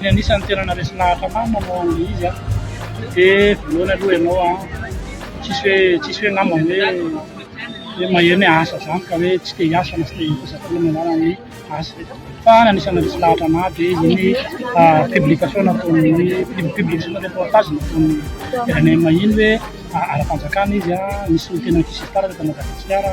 Ny anisan'ny tena naharesy lahatra ahy manao ilay izy dia voalohany aloha ianao an, tsisy hoe tsisy hoe angamba hoe hoe maheno hoe asa izany ka hoe tsy te hiasa na tsy te hitady vola no anarany ny asa. Fa ny anisan'ny naharesy lahatra anahy dia iny publication nataon'ny publication na reportage nataon'ny RNM iny hoe ara-panjakana izy an, nisy teny an-kisimpara teto Madagasikara.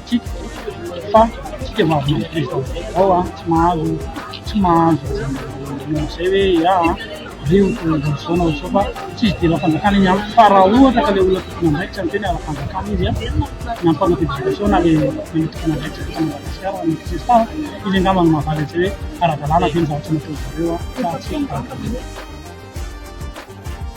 Tiako fa tsika mahavita président vaovao an, tsy mahazo tsy mahazo manao an'izay hoe ya an, reo olona izao na izao fa tsy izy dila fanjakana iny an, fa raha ohatra ka le olona tompon'andraikitra miteny ala fanjakana izy an, ny ampanao publication na le le tompon'andraikitra teto Madagasikara na ny crespa an, izy angamba no mahavaly an'izay hoe ara-dalàna ve ny zavatra nataon'zareo an sa tsia.